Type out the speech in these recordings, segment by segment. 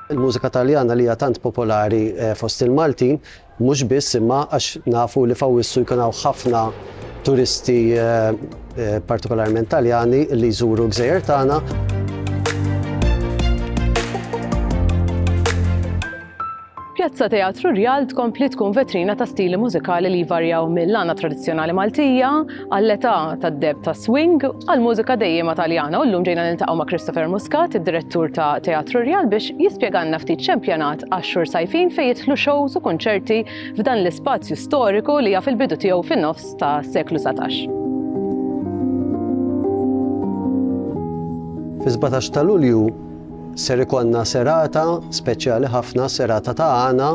Il-mużika Taljana li hija tant popolari fost il-Maltin mhux biss imma għax nafu li f'Awwissu jkun hawn ħafna turisti partikolarment Taljani li jżuru l-gżejjer tagħna. Pjazza Teatru Rjal tkompli tkun vetrina ta' stili mużikali li jvarjaw mill-għana tradizzjonali Maltija għall-età tad-deb ta' swing għall-mużika dejjema Taljana u llum ġejna niltaqgħu ma' Christopher Muscat, id-direttur ta' Teatru Rjal biex jispjegalna ftit x'empjanat għax-xhur sajfin fejn jidħlu xows u kunċerti f'dan l-ispazju storiku li jaf il-bidu tiegħu fin-nofs tas-seklu satax. Fis-17 ta' Lulju Ser ikollna serata speċjali ħafna, serata ta' għana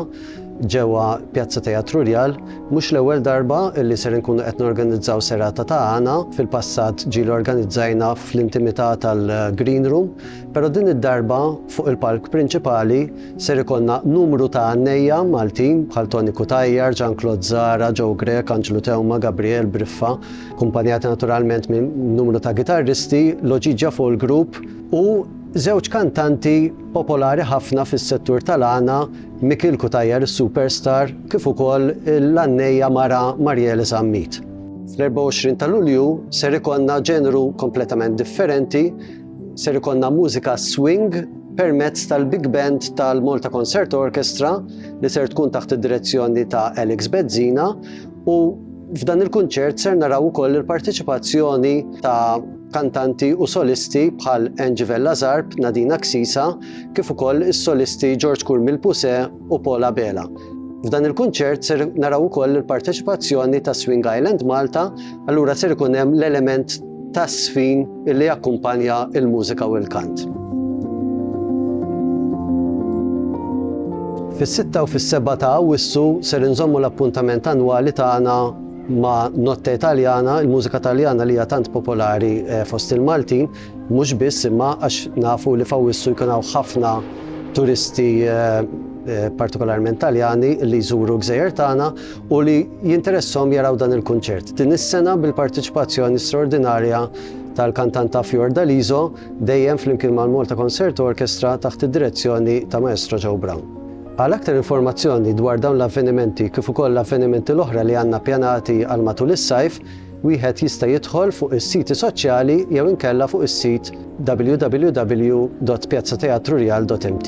ġewwa Pjazza Teatru Rjal. Mhux l-ewwel darba li ser inkunu qed norganizzaw serata ta' għana, fil-passat ġieli organizzajna fl-intimità tal-Green Room, però din id-darba fuq il-palk prinċipali ser ikollna numru ta' għannejja Maltin bħal Toni Cutajar, Jean Claude Zahra, Joe Grech, Anġlu Theuma, Gabriel Briffa, kumpanjati naturalment minn numru ta' gitarristi, Loġiġja Folk Group, u żewġ kantanti popolari ħafna fis-settur tal-għana, Mikiel Cutajar is-superstar kif ukoll l-għannejja mara Mariele Zammit. Fl-24 ta' Lulju ser ikollna ġeneru kompletament differenti, ser ikollna mużika swing permezz tal-Big Band tal-Malta Concert Orchestra li ser tkun taħt id-direzzjoni ta' Alex Bezzina u f'dan il-kunċert ser naraw ukoll il-parteċipazzjoni ta' kantanti u solisti bħal Angie Vella Zarb, Nadina Ksisa, kif ukoll is-solisti George Kurmil Puse u Paul Abela. F'dan il-kunċert ser naraw ukoll il-parteċipazzjoni ta' Swing Island Malta, allura ser ikun hemm l-element ta' sfin illi jakkumpanja il-mużika u l-kant. Fis-6 u fis-7 ta' Awwissu ser inżommu l-appuntament annwali tagħna Ma' Notte Italiana, il-mużika Taljana li hija tant popolari fost il-Maltin, mhux biss imma għax nafu li f'Awwissu jkun hawn ħafna turisti partikolarment Taljani li jżuru l-gżejjer tagħna u li jinteressahom jaraw dan il-kunċert. Din is-sena bil-parteċipazzjoni straordinarja tal-kantanta Fiordaliso, dejjem flimkien mal-Malta Concert Orchestra taħt id-direzzjoni ta' Maestro Joe Brown. Għal aktar informazzjoni dwar dawn l-avvenimenti kif ukoll l-avvenimenti l-oħra li għandna ppjanati għal matul is-sajf, wieħed jista' jidħol fuq is-siti soċjali jew inkella fuq is-sit www.piazzateatrurial.mt.